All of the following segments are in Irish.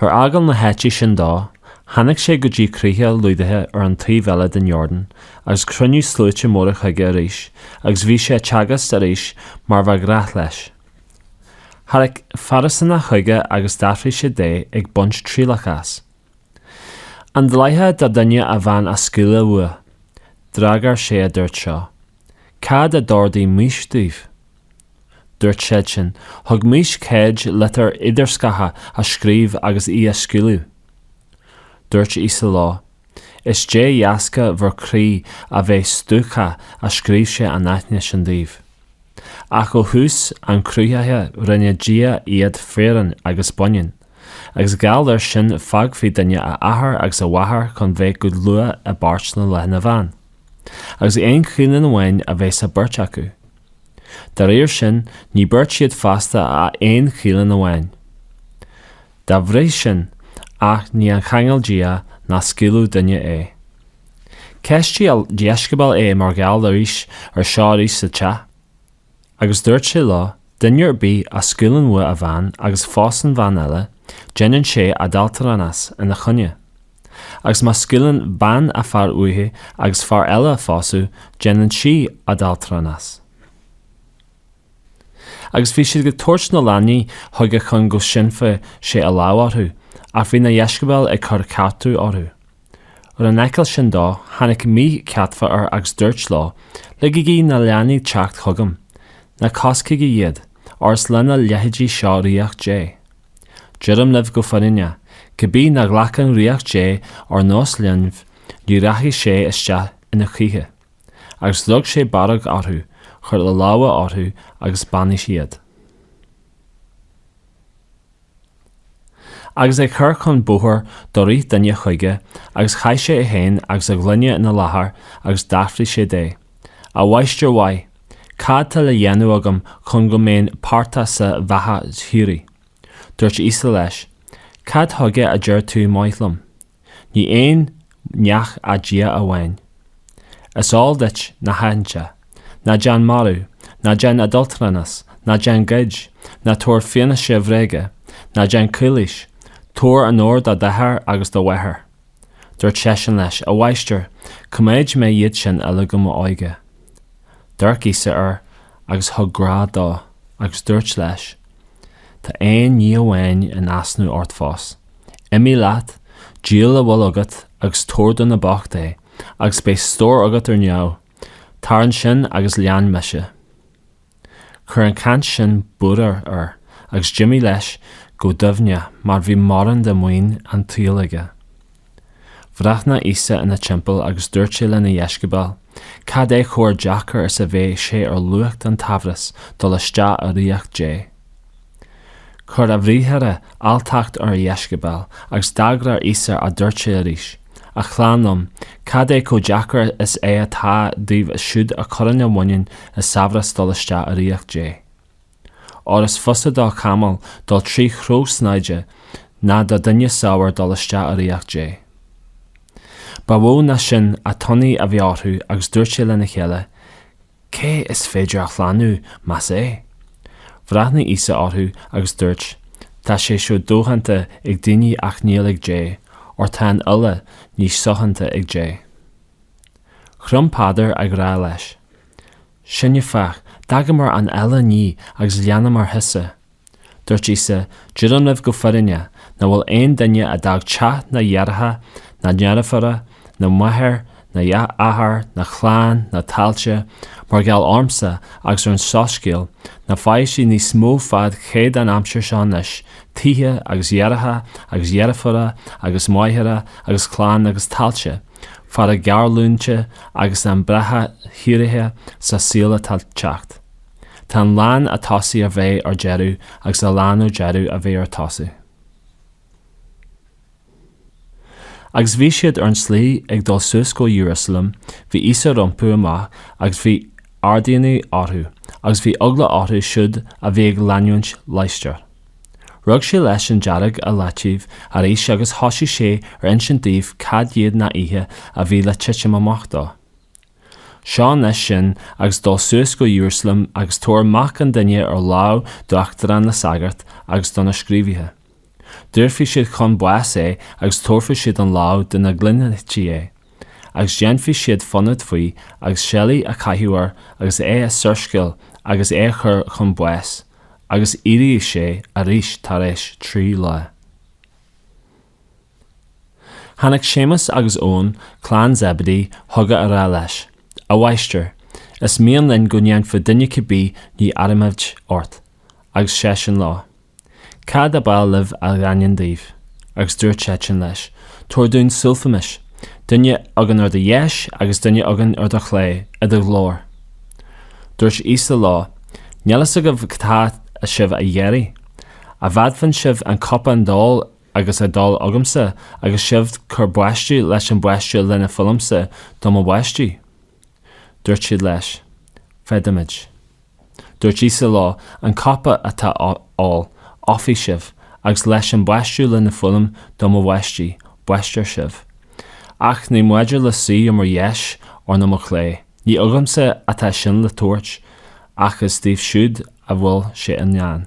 Ar fhágáil na háite sin dó, tháinig sé go dtí críocha Iúdáia ar an taobh eile den Iordáin agus chruinnigh sluaite móra chuige arís agus bhí sé ag teagasc arís mar ba ghnáth leis. Tháinig Fairisínigh chuige agus d'fhiafraigh sé de ag baint trialach as. An dleathach do duine a bhean a scaoileadh uaidh? D'fhreagair sé a dúirt seo, Cad a d'ordaigh Maois daoibh? Dúirt siadsan. Thug Maois cead litir idirscartha a scríobh agus í a scaoileadh. Dúirt Íosa leo, Is de dheasca bhur gcroí a bheith stuacach a scríobh sé an aithne sin daoibh. Ach ó thús an chruthaithe rinne Dia iad fireann agus baineann, agus gheall air sin fágfaidh duine a athair agus a mháthair chun bheith go dlúth i bpáirt na lena bhean, agus aon cholainn amháin a bheidh sa bheirt acu. Dá réir sin, ní beirt siad feasta ach aon cholainn amháin. Dá bhrí sin, an ní a cheangail Dia ná scaoileadh duine é. Cheistigh a dheisceabail é mar gheall arís ar seo arís sa teach. Agus dúirt sé leo, Duine ar bith a scaoileann uaidh a bhean agus pósann bhean eile, déanann sé adhaltranas ina choinne. Agus má scaoileann bean a fear uaithi agus fear eile a phósadh, déanann sí adhaltranas. Agus bhí siad ag tabhairt na leanaí chuige chun go sínfeadh sé a lámh orthu, ach bhí na deisceabail ag cur ceartú orthu. Ar a fheiceáil sin dó, tháinig míchéadfa air agus dúirt leo, Ligigí na leanaí teacht chugam, ná coiscigí iad, óir is lena leithéidí seo ríocht Dé. Deirim libh go fírinneach, cibé nach nglacann ríocht Dé ar nós linbh, ní rachaidh sé isteach ina choíche. Agus rug sé barróg orthu, chuir a lámha orthu agus bheannaigh iad. Agus é ag cur chun bóthair do rith duine chuige agus chaith sé é féin agus a ghlúine ina láthair agus d'fhiafraigh sé de. A Mháistir mhaith, cad tá le dhéanamh agam chun go mbeinn páirteach sa bheatha shíoraí? Dúirt Íosa leis, Cad chuige a deir tú maith liom? Ní aon neach ach Dia amháin. Is eol duit na haitheanta, Ná déan marú, ná déan adhaltranas, ná déan goid, ná tabhair fianaise bhréige, ná déan calaois, tabhair onóir do d'athair agus do mháthair. Dúirt seisean leis, 'A mháistir, choimeád mé iad sin uilig ó m'óige. D'amharc Íosa air agus thug grá dó, agus dúirt leis, 'Tá aon ní amháin in easnamh ort fós. Imigh leat, díol a bhfuil agat agus tabhair do na boicht é, agus beidh stór agat ar neamh. Tar ansin agus lean mise. Chuir an chaint sin buaireamh air agus d'imigh leis go dubhach mar bhí mórán de maoin an tsaoil aige. Bhreathnaigh Íosa ina timpeall agus dúirt sé lena dheisceabail, Cad é chomh deacair is a bheidh sé ar lucht an tsaibhreas dul isteach i ríocht Dé! Chuir a bhriathra alltacht ar a dheisceabail, agus d'fhreagair Íosa a dúirt sé arís, A chlann liom, cad é chomh deacair is é atá dóibh siúd a chuireann a mhuinín i saibhreas dul isteach i ríocht Dé? Óir is fusa do chamall dul trí chró snáthaide ná do dhuine saibhir dul isteach i ríocht Dé. Ba mhó ná sin an t-ionadh a bhí orthu agus dúirt sé lena chéile, Cé is féidir a shlánú, más ea? Bhreathnaigh Íosa orthu agus dúirt, Tá sé seo dodhéanta ag daoine ach níl ag Dé, óir tá an uile ní sodhéanta ag Dé. Chrom Peadar ag rá leis, Sinne, féach, d'fhágamar an uile ní agus leanamar thusa. Dúirt Íosa, Deirim libh go fírinneach, nach bhfuil aon duine a d'fhág teach ná deartháireacha ná deirfiúracha ná máthair ná athair ná clann ná tailte, mar gheall ormsa agus ar an Soiscéal, ná faighidh sé níos mó faoi chéad an aimsir seo anois, tithe agus deartháireacha agus deirfiúracha agus máithre agus clann agus tailte, fara géarleanúintí agus an bheatha shíoraí sa saol atá le teacht. Tá a lán ar tosach a bheidh ar deireadh agus a lán ar deireadh a bheidh ar tosach. Agus bhí siad ar an tslí ag dul suas go Iarúsailéim, bhí Íosa rompu amach agus bhí ardionadh orthu, agus bhí eagla orthu siúd a bhí ag leanúint laistiar. Rug sé leis an dáréag i leataobh arís agus thosaigh sé ar insint dóibh cad iad na nithe a bhí le titim amach dó. Seo anois sinn agus dul suas go Iarúsailéim agus tabhair Mac an Duine ar lámh d'uachtaráin na sagart agus do na scríobhaithe. Daorfaidh siad chun báis é agus tabharfaidh siad an lámh do na gintlithe é, agus déanfaidh siad fonóid faoi, agus seilí a chaitheamh air agus é a sciúrsáil agus é a chur chun báis, agus éireoidh sé arís tar éis trí lá. Tháinig Séamus agus Eoin, clann Zeibidé, chuige á rá leis, A Mháistir, is mian linn go ndéanfá dúinn cibé ní a iarraimid ort. Agus seisean leo, Cad ab áil libh a dhéanfainn daoibh? Agus dúirt siadsan leis, Tabhair dúinn suífimis, duine againn ar do dheis agus duine againn ar do chlé, i do ghlóir. Dúirt Íosa leo, Níl a fhios agaibh cad tá sibh a iarraidh. An bhféadann sibh an cupán d'ól a agus a d'ól agamsa agus sibh bhur baisteadh leis an baisteadh lena fuilimsa do mo bhaisteadh? Dúirt siad leis, Féadaimid. Dúirt Íosa leo, An cupa atá á ól, ólfaidh sibh, agus leis an baisteadh lena fuilim do mo bhaisteadh, baistfear sibh. Ach ní maidir le suí ar mo dheis or nó mo chlé, ní agamsa atá sin le tabhairt, ach is dóibh siúd a bhfuil sé i ndán.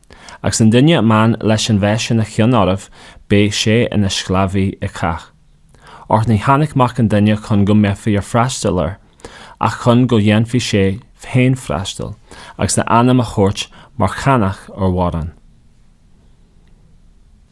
Agus an duine ar mian leis a bheith ina cheann oraibh, beidh sé ina sclábhaí ag cách. Óir níor tháinic mac an duine chun go mbeifí ag freastal air, ach chun go dhéanfadh sé féin freastal, agus a anam a thabhairt mar cheannach ar mhórán.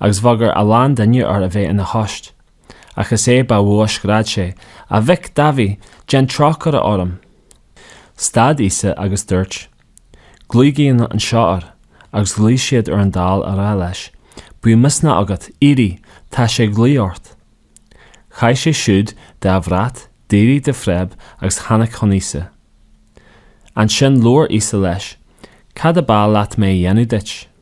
agus bhagair a lán duine air a bheith ina thost. Ach is é ba mhó a scread sé, A Mhic Dáibhí, déan trócaire orm! Stad Íosa agus dúirt, Glaoigí anseo air. Agus ghlaoigh siad ar an dall á rá leis, Bíodh misneach agat, éirigh, tá sé ag glaoch ort. Chaith sé siúd de a bhrat, d'éirigh de phreib agus tháinig chun Íosa. Ansin labhair Íosa leis, Cad ab áil leat mé a dhéanamh duit?